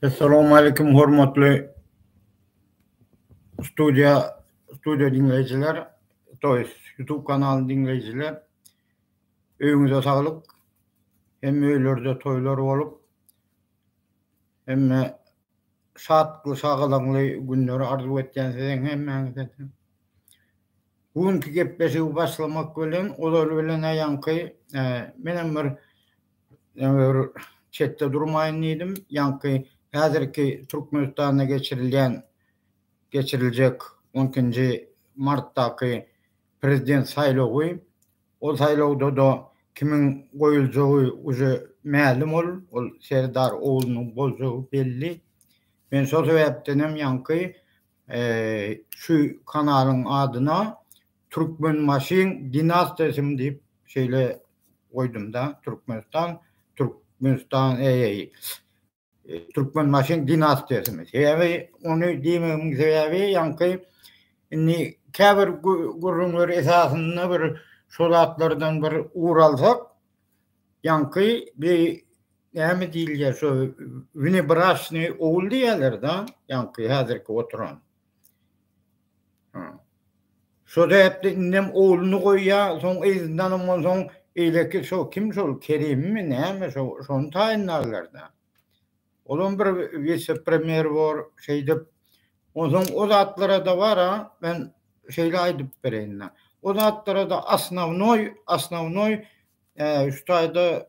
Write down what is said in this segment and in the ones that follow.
Assalamu aleykum hormatly studiýa studiýa diňleýjiler, to ýest YouTube kanalyny diňleýjiler. Öýüňize saglyk. Hemme öýlerde toýlar bolup, hemme şatly, şagalaňly günleri arzuw etýän size hemmäňize. Bu günki gepleşigi başlamak bilen, ozal bilen aýanky, menem bir Ýöne bir çetde durmaýyn diýdim. Ýaňky häzirki Türkmenistanda geçirilýän, geçiriljek on ikinji martdaky prezident saýlawy, ol saýlawda-da kimiň goýuljagy uje mälim ol, ol Serdar oglunyň boljagy belli. Men şol sebäpdenem ýaňky şu kanalyň adyna Türkmenbaşyň dinastiýasymy diýip şeýle goýdumda, Türkmenistan, Türkmenistan eýeý. Türkmenbaşyň dinastiýasymy. Sebäbi ony diýmegimiň sebäbi ýaňky indi käbir gürrüňler esasynda bir şo zatlardan bir ugur alsak, ýaňky bi näme diýilýär şo wnebraşnyý ogul diýýärler-de, ýaňky häzirki oturan. Şo däpde indem ogluny goýýa, soň yzyndan ondan soň eýleki şo kim şol Kerimmi näme şo şony taýynlarlar-da. Olam bir wise-premýer bor şeýdip. Onsoň o zatlara-da bar-a, men şeýle aýdyp bereýin-dä. O zatlara-da asnawnoý, asnawnoý şu taýda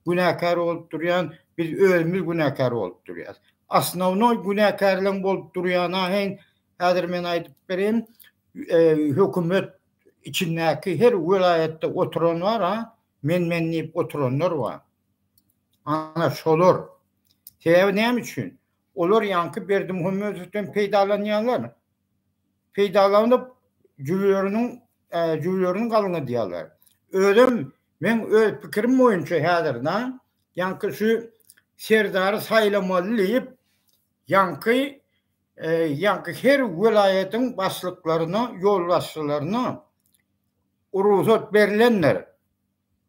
günäkär bolup durýan, biz özümiz günäkär bolup durýas. Osnownoý günäkärleň bolup durýany aheň häzir men aýdyp berin, hökümet içindäki her welaýatda oturan bar-a, men men diýip oturanlar bar. Ana şolar. Sebäbi näme üçin? Olar ýaňky Berdimuhamedowdan peýdalanýarlar. Peýdalanyp jübüleriniň jübülerini galňadýarlar. Özem Men öz pikirim boýunça häzir na ýaňky şu serdary saýlamaly diýip ýaňky ýaňky her welaýatyň başlyklaryna ýolbaşçylaryna rugsat berlendir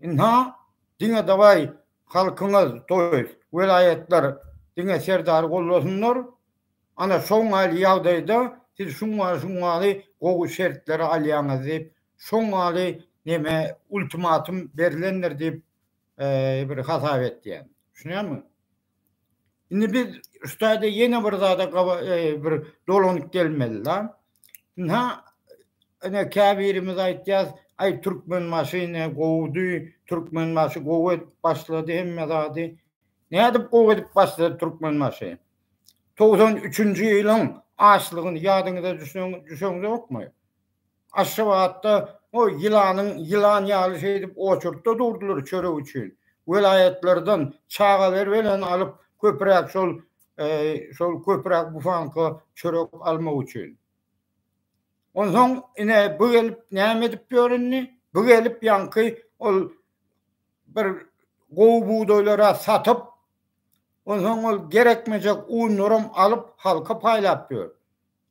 ynha diňe dawaý halkyňyz toýs welaýatlar diňe serdary gollasynlar ana şoňaly ýagdaýda siz şuňňaly şuňňaly gowy şertleri alýaňyz diýip Şoň ýaly neme ultimatum berilendir diýip bir hasap etýän. Düşünýäňmi? Indi biz şutaýda ýene bir zada bir dolanyp gelmeli la. Ynha ene käbirimiz aýtýas, aý Türkmenbaşy ine gowudy, Türkmenbaşy gowy edip başlady hemme zady. Nädip gowy edip başlady Türkmenbaşy? Togsan üçünji ýylyň açlygyny ýadyňyza düşen düşen ýokmy? Aşgabatda o ýylanyň ýylan ýaly şeýdip oçurtda durdylar çörek üçin. Welaýatlardan çaga berweleni alyp köpüräk şol şol köpüräk bufanka çörek almak üçin. Onsoň ine bu gelip näme edip ýör indi? Bu gelip ýaňky ol bir gowy bugdaýlara satyp, onsoň ol gerekmejek unlaram alyp halka paýlap ýör.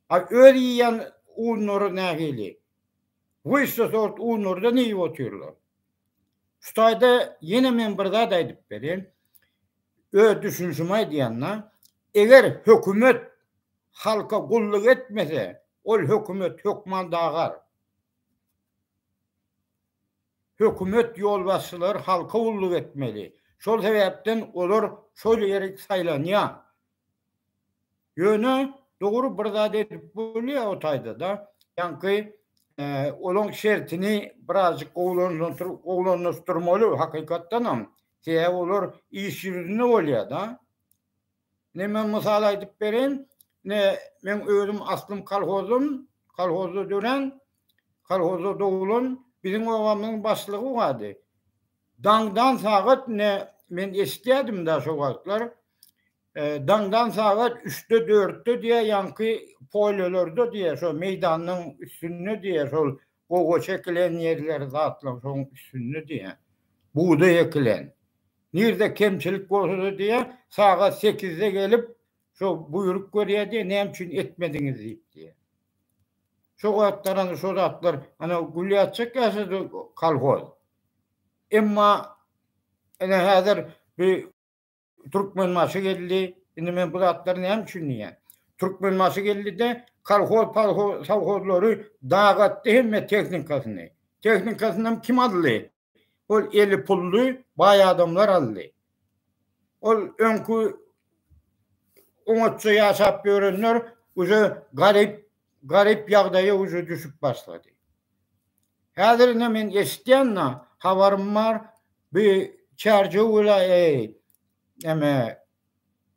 A öz iýýän unlary nähili? Wyşşa sort unlardan iýip otyrlar. Şu taýda ýene men bir zat aýdyp berin. Öz düşünişimi aýdýan-da. Eger hökümet halka gulluk etmese, ol hökümet hökman dagar. Hökümet ýolbaşçylary halka gulluk etmeli. Şol sebäpden olar şol ýeri saýlanýar. Ýöne dogry bir zat edip bolýar o taýda-da. Ýaňky olaň şertini birazjyk gowulandyr-gowulandyşdyrmaly hakykatdan hem. Sebäbi olar iş ýüzünde bolýar-da. Ine men mysal aýdyp bereýin, ine meň özüm aslym kolhozdan, kolhozda dörän, kolhozda doglan biziň obamyzyň başlygy bardy. Daňdan sagat ne men eşitýädim da şo wagtlar. Daňdan sagat üçde dörtde diýä ýaňky polýolarda diýä şo meýdanyň üstünde diýä şol gowaça ekilen ýerleri zatlaň şoň üstünde diýä bugdaý ekilen. Nirde kemçilik bolsada diýä sagat sekizde gelip şo buýruk berýä diýä näme üçin ekmediňiz diýip diýä. Şo wagtlar ana şo zatlar ana gülýäçek ýaşady kolhoz. Emma ene häzir bir Türkmenbaşy geldi. Indi men bu zatlary näme üçin diýýän? Türkmenbaşy geldi-de kolhoz palhoz sowhozlary dagatdy hemme tehnikasyny. Tehnikasynam kim aldy? Ol eli pully baý adamlar aldy. Ol öňki oňatça ýaşap ýörenler uze garyp, garyp ýagdaýa uze düşüp başlady. Häzir ine men eşitýän-na, habarym bar, bi Çärjew welaýaty, eme,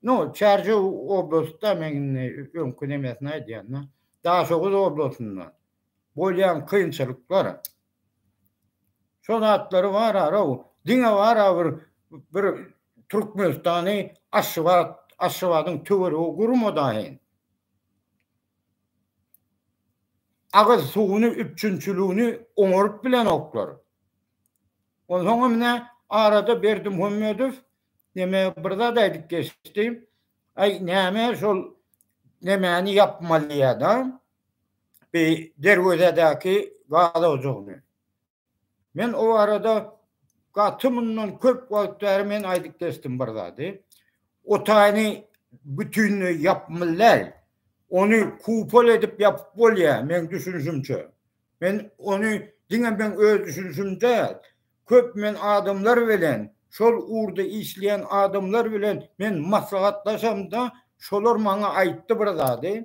no, Çärjew oblastda men indi öňki nemesini aýdýan-da, Daşoguz oblasynda bolýan kynçylyklar, Şo zatlary barara-ow, diňe bara bir bir Türkmenistany Aşgabat, Aşgabadyň töweregi gurma daýy. Agyz suwuny, üpjünçiligini oňaryp bilenoklar. Onsoň hem nä, arada Berdimuhamedow neme bir zat aýdyp geçdi. Aý, näme şol nemäni ýapmalyýa-da, bi derwezedäki gaz ojagyny. Men o barada gaty mundan köp wagt bäri men aýdyp geçdim bir zady. O taýyny bütinleý ýapmyllar. Ony kupol edip ýapyp bolýar, meň düşünişimçe. Men ony diňe meň öz düşünişim däl, köp men adamlar bilen, şol ugurda işleýän adamlar bilen men maslahatlaşamda, şolar maňa aýtdy bir zady.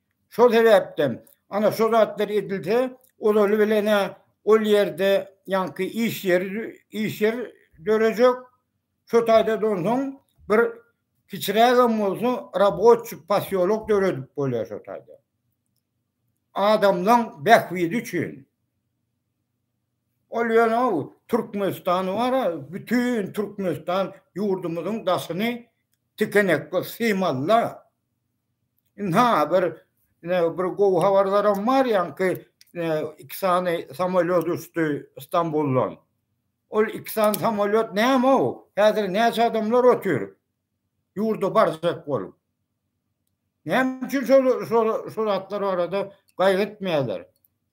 Şol sebäpden, ana, şo zatlar edilse, olaly bilen-ä ol ýerde ýaňky iş ýeri, iş ýer dörejek, şo taýda-da onsoň bir kiçirägem bolsa raboçi posýolok döredip bolýar şo taýda. Adamlaň bähbidi üçin. Ol ýöne Türkmenistan bar-a, bütin Türkmenistan ýurdumyzyň daşyny tikenekli, symalla. Ynha bir bir gowy habarlaram bar ýaňky iki sany samolýot uçdy Stambuldan. Ol iki sany samolýot näme o? Häzir näçe adamlar otur? Ýurda barjak bolup. Näme üçin şol şol şol atlar arada gaýgytmaýarlar?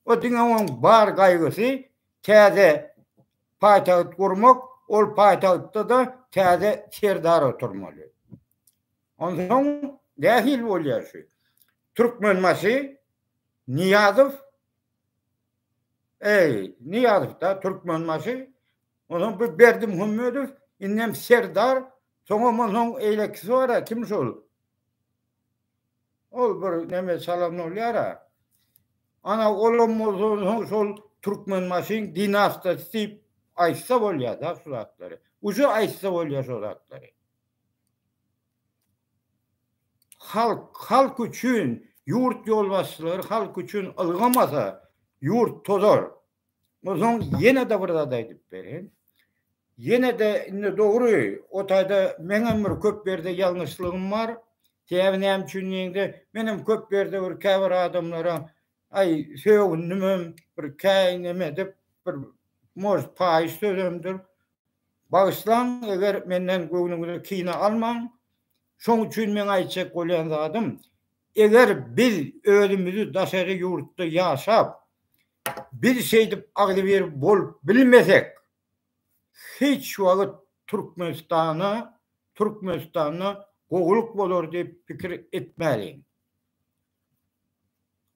O diňe oň bar gaýgysy täze paýtagt gurmak, ol paýtagtda da täze serdar oturmaly. Onsoň nähili bolýar şu? Türkmenbaşy Nyýazow Eý, Nyýazow-da Türkmenbaşy, onsoň bu Berdimuhamedow, indem Serdar, soňam onsoň eýlekisi bar-a, kim şol? Ol bir neme çalan bolýar-a. Ana, olam bolsa onsoň şol Türkmenbaşyň dinastyýasy diýip aýtsa bolýar-da şu zatlary. Uje aýtsa bolýar şu zatlary. Halk, halk üçin, ýurt ýolbaşçylary halk üçin ylgamasa, ýurt tozar. Onsoň ýene-de bir zat aýdyp bereýin. Ýene-de indi dogry, o taýda meňem bir köp ýerde ýalňyşlygym bar. Sebäbi näme üçin diýende, menem köp ýerde bir käbir adamlara aý sögündimem, bir käýindim edip, bir, может, paýyş sözemdir. Bagyşlaň eger menden göwnüňizi kine almaň, şoň üçin meň aýtjak bolýan zadym, eger biz özümizi daşary ýurtda ýaşap, biz şeýdip agzybir bolup bilmesek, hiç wagt Türkmenistana, Türkmenistanda gowulyk bolar diýip pikir etmäliň.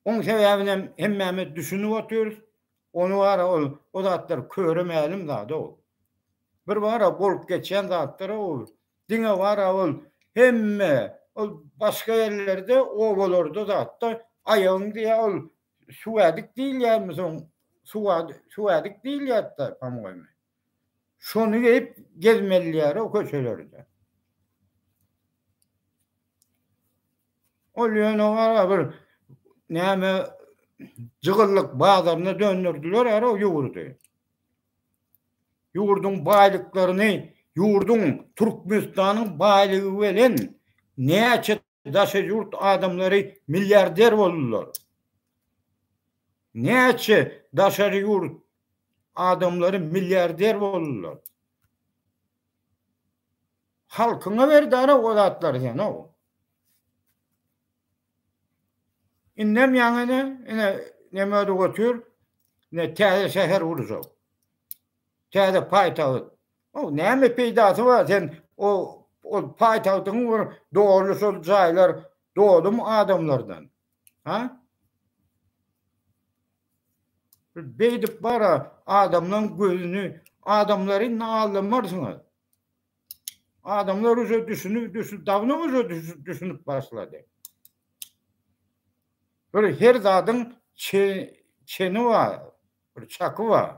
Oň sebäbinem hemmämiz düşünip otyrys, Ony bara ol o zatlar köre mälim zat ol. Bir bara bolup geçýän zatlar ol. Diňe bara ol hemme ol başga ýerlerde obalarda zatda aýagyň diýä ol suwädik diýilýärmi soň suwa suwädik diýilýärdi pamygymy. Şony geýip gezmeliýär o köçelerde. Ol ýöne gara bir näme jygyllyk bazaryna döndürdiler ýa o ýurdy. Ýurduň baýlyklaryny, ýurduň Türkmenistanyň baýlygy bilen näçe daşary ýurt adamlary milliarder boldular. Näçe daşary ýurt adamlary milliarder boldular. Halkyňa berdara o zatlar sen o. Indem ýaňyny, ine, neme ödü götür, ne täze şäher urjak. Täze paýtagt. Ow näme peýdasy bar sen o ol paýtagtyň bir doly şol jaýlar dolum adamlardan. Ha? Beýdip bara adamlaň gözüni adamlary indi aldamarsyňyz. Adamlar uje düşünip düşün dawno uje düşünip başlady. Bir her zadyň çeni bar. Bir çaky bar.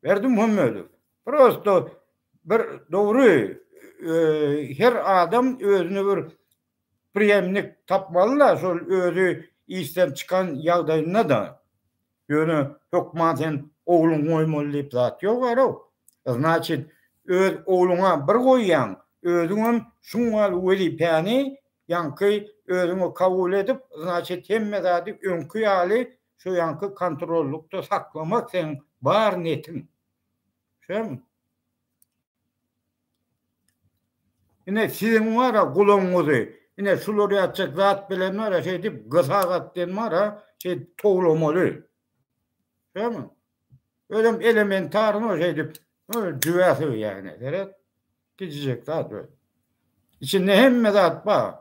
Berdimuhammedow. Prosto bir dogry her adam özüne bir priýemnik tapmaly-da, şol özi işden çykan ýagdaýynda-da. Ýöne hökman sen ogluňy goýmaly diýip zat ýok ara-ow. Znaçit, öz ogluňa bir goýýaň, özüňem şuň ýaly wezipäni ýaňky özüňe kabul edip, znaçit, hemme zady öňki ýaly Şu ýaňky kontrollykda saklamak seň bar netiň. Şem. Ine siziň wara gulagyňyzy, ine şular ýatjak zat bilen wara şeýdip gysa gat diýen wara şeý towlamaly. Şem. Özüm elementaryny şeýdip, jübäsi ýagny, seret. Gijijek zat we içinde hemme zat bar.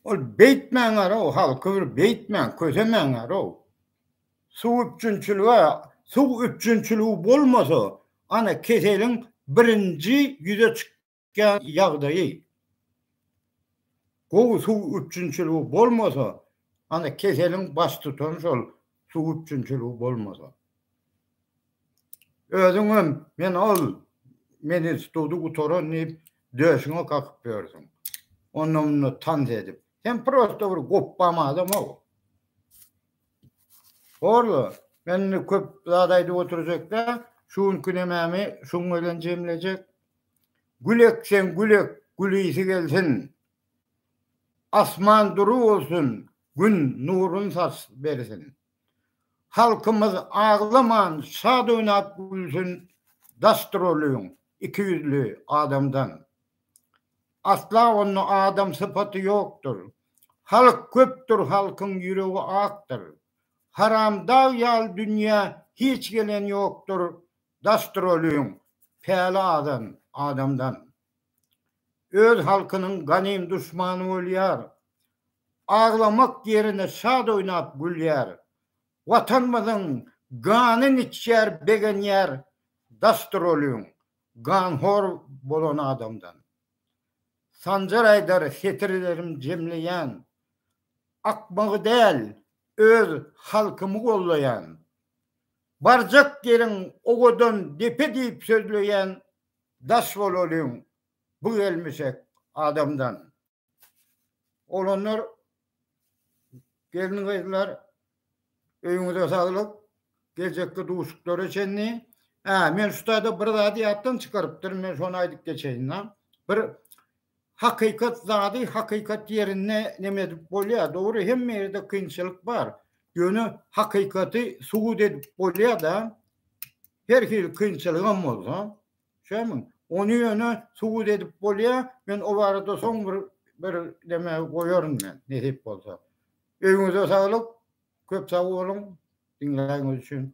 Ol beýtmäň ara o halky bir beýtmäň, kösemäň ara o. Suw üpjünçiligi, suw üpjünçiligi bolmasa, ana keseliň birinji ýüze çyk. Gädä ýagdaýy gowy suw üpjünçiligi bolmasa, ana keseliň baş tutany şol suw üpjünçiligi bolmasa. Özüňem men ol men instituty gutaran diýip döşüňe kakyp ýörsüň. Onda munda tans edip. Sen prosta bir gopbam adam-a. Horla, men indi köp zat aýdyp oturjakda, şu günki nemämi şuň bilen jemlejek. Gül ekseň gül ek, gülisi gelsin, Asman dury bolsun, Gün nurun saç bersin. Halkymyz aglaman, şat oýnap gülsün, Daşdyr ol öň, iki ýüzli adamdan. Asla onda adam sypaty ýokdur, Halk köpdür, halkyň ýüregi akdyr. Haramdag ýaly dünýä hiç gelen ýokdur, Gastrolýuň päli azan adamdan. Öz halkynyň ganym duşmany bolýar. Aglamak ýerine şat oýnap gülýär. Watanymyzyň ganyn içýär begenýär Gastrolýuň ganhor bolan adamdan. Sanjar aýdar setirlerim jemleýän. Akmagy däl öz halkymy gollaýan. Barjak ýeriň owadan depe diýip sözleýän daş bolalyň bu gelmişek adamdan. Oglanlar gelin-gyzlar öýüňize saglyk geljekki duşuklara çenli. Hä men şutada bir zady ýatdan çykarypdyryn men şony aýdyp geçeýin-la. Bir Hakykat zady hakykat ýerinde neme edip bolýar. Dogry hemme ýerde kynçylyk bar. Ýöne hakykaty subut edip bolýar-da. Her hili kynçylygam bolsa. Şämiň? Ony ýöne subut edip bolýar. Men o barada soň bir bir neme goýaryn men nesip bolsa. Öýüňize saglyk. Köp sag boluň diňläniňiz üçin.